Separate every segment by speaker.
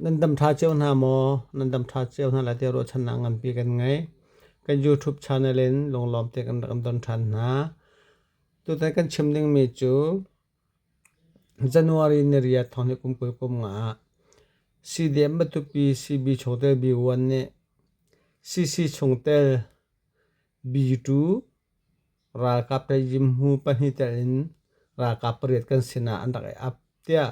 Speaker 1: Nan dam ṭha cio hna maw? Nan dam ṭha cio hna lai tiah ruahchannak nganpi kan ngei. Kan YouTube channel in lunglawm te kan rak in ton ṭhan hna. Tutan kan chim dingmi cu January ni riat thawng hi kum kul kum nga ah CDM Matupi CB chungtel B1 nih CC chungtel B2 ralkap le Yimhu pahnih tel in ralkap pariat kan sinah an rak i ap tiah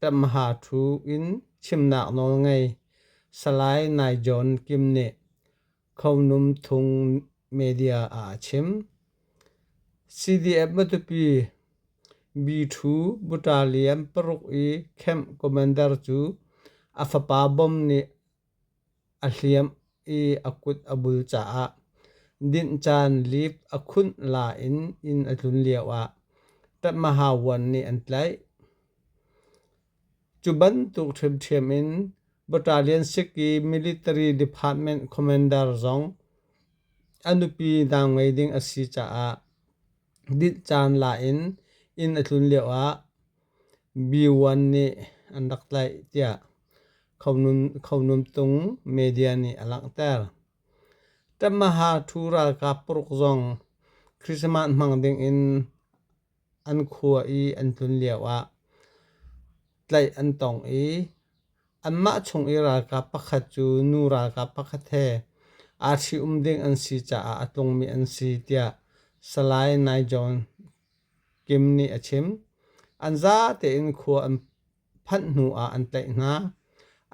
Speaker 1: Temha thu in chimnak nawl ngei Salai Nai John Kim nih Khonum Thung media ah a chim. CDF Matupi B2 Butalian paruk i camp commander cu a fapa bom nih A hliamh i a kut a bul caah dinh caan liip a khunh la in inn a tlun lioah tatmahavuan nih an tlaih. Cu bantuk ṭhiamṭhiam in Battalion sik i military department commander zong a nupi dau ngei ding a si caah Dinh caan la in inn a tlun lio ah B1 nih an rak tlaih tiah Khonum Tung media nih a langhter. Tamaha ṭhu ralkap paruk zong Christmas hmang ding in an khua i an tlun lio ah tlaih an tong i Anmah chung i ralkap pakhat cu nu ralkap pakhat he aa ṭhium ding an si caah a tlungmi an si tiah Salai Nai John Kim nih a chim. An za tein khua an phanh hnu ah an tlaih hna.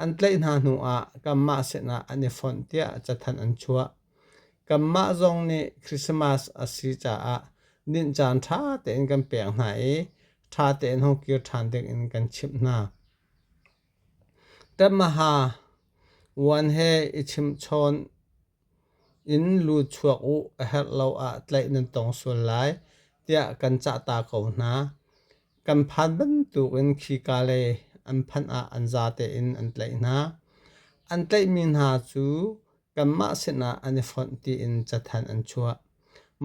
Speaker 1: An tlaih hna hnu ah kanmah sinah an i fonh tiah cathanh an chuah. Kanmah zong nih Christmas a si caah dinh caan ṭha tein kan pek hna i ṭha tein hong kir ṭhan ding in kan chimh hna. Tamaha Vuan he i chimhchawn in lu chuak u a herh lo ah tlaih nan tong sual lai tiah kan cah ta ko hna. Kan phan bantuk in khika le an phanh ah an za tein an tlaih hna. An tlaihmi hna cu kanmah sinah an i fonh tiin cathanh an chuah.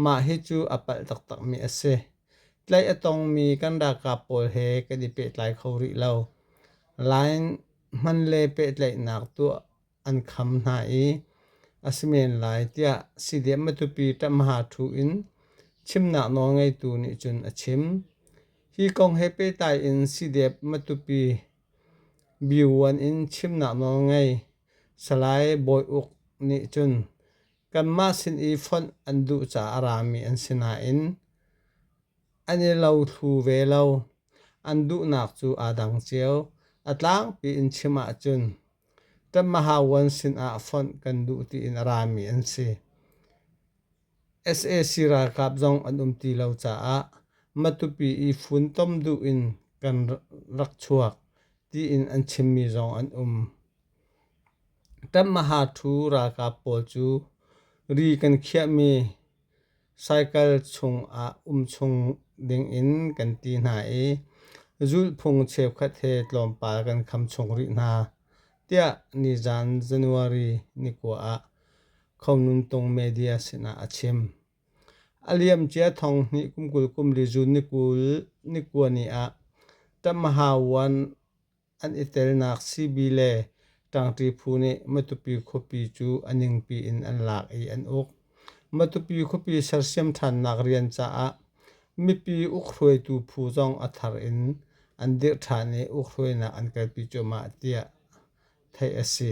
Speaker 1: Mah hi cu a palh taktakmi a si. Tlaih a tongmi kan ralkap pawl he kan i pehtlai kho rih lo. Line hman le pehtlaihnak tuah an kham hna i a si men lai tiah CDM matupi ṭamha ṭhu in chimnak nawlngeitu nih cun a chim. Hi kong he pehtlai in CDM matupi Byivuan in chimnak nawl ngei. Salai Bawi Uk nih cun kanmah sin i fonh an duh caah rami an si nain an i lo thlu ve lo. An duhnak cu aa dang cio. A tlangpi in chim ahcun kan Mahavuan sinah fonh kan duh tiin a rami an si. sac ralkap zong an um ti lo caah Matupi i funtom duh in kan rak chuak tiin an chimmi zong an um. Tanmaha ṭhu ralkap pawl cu ri kan khiahmi cycle chung ah um chung dingin kan ti hna i zulhphung cheukhat he tlawmpal kan kham chung rih hna tiah nizan January ni kua ah Khongnung Tung media sinah a chim. A liamcia thong hnih kum kul kum li June ni kua ni ah Tamahawan an i telnak CB le ṭangṭi phu nih Matupi khuapi cu a ningpi in an lak i an uk. Matupi khuapi sersiam ṭhannak rian caah mipi ukhruaitu phu zong a thar in an dirh ṭhan i ukhruainak an kalpi cuahmah tiah theih a si.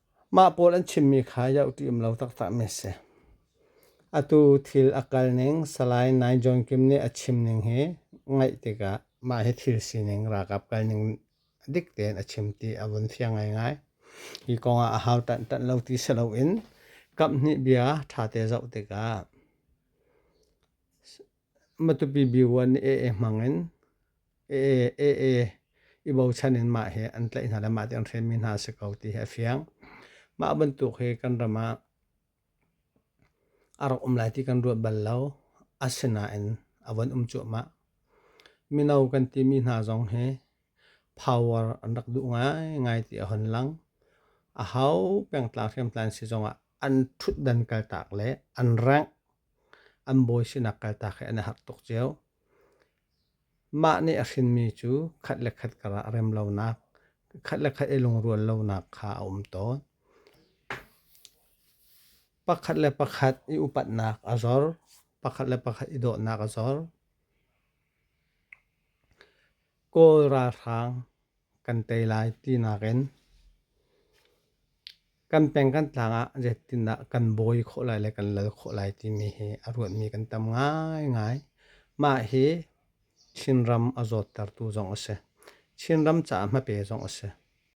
Speaker 1: Mah pawl an chimmi kha yoh ti um lo taktak mi a si. Atu thil a kal ning Salai Nai John Kim nih a chim ning hi ngaih tikah mah hi thil sining ralkap kal ning dik tein a chim ti a vun fiang ngaingai. Hi kongah a hau tantan lo ti si loin kamhnih bia ṭhate zoh tikah Matupi B1 AA hmang in AA i bochan in mah hi an tlaih hna le mah ti an hren mi hna a si ko ti hi a fiang. Mah bantuk hi kan ram ah a rak um lai ti kan ruat bal lo. Asinain a von um cuahmah. Mino kan ti mi hna zong hi power an rak duh ngaingai ti a hon lang. A hau pengtlang hriamtlan si zong ah an ṭhutdan kaltak le an rengh. an bawi sinak kaltak he an i harh tuk cio. Mah nih a hrinmi cu khat le khat karah rem lonak, khat le khat i lungrual lonak kha a um tawn. Pakhat le pakhat i upatnak a zor, pakhat le pakhat i dawhnak a zor. Kawl ralhrang kan tei lai tinak in kan peng kan tlang ah zeitindah kan bawi khawh lai le kan lal khawh lai timi hi a ruatmi kan tam ngaingai. Mah hi Chinram a zawttertu zong a si. Chinram caah hmape zong a si.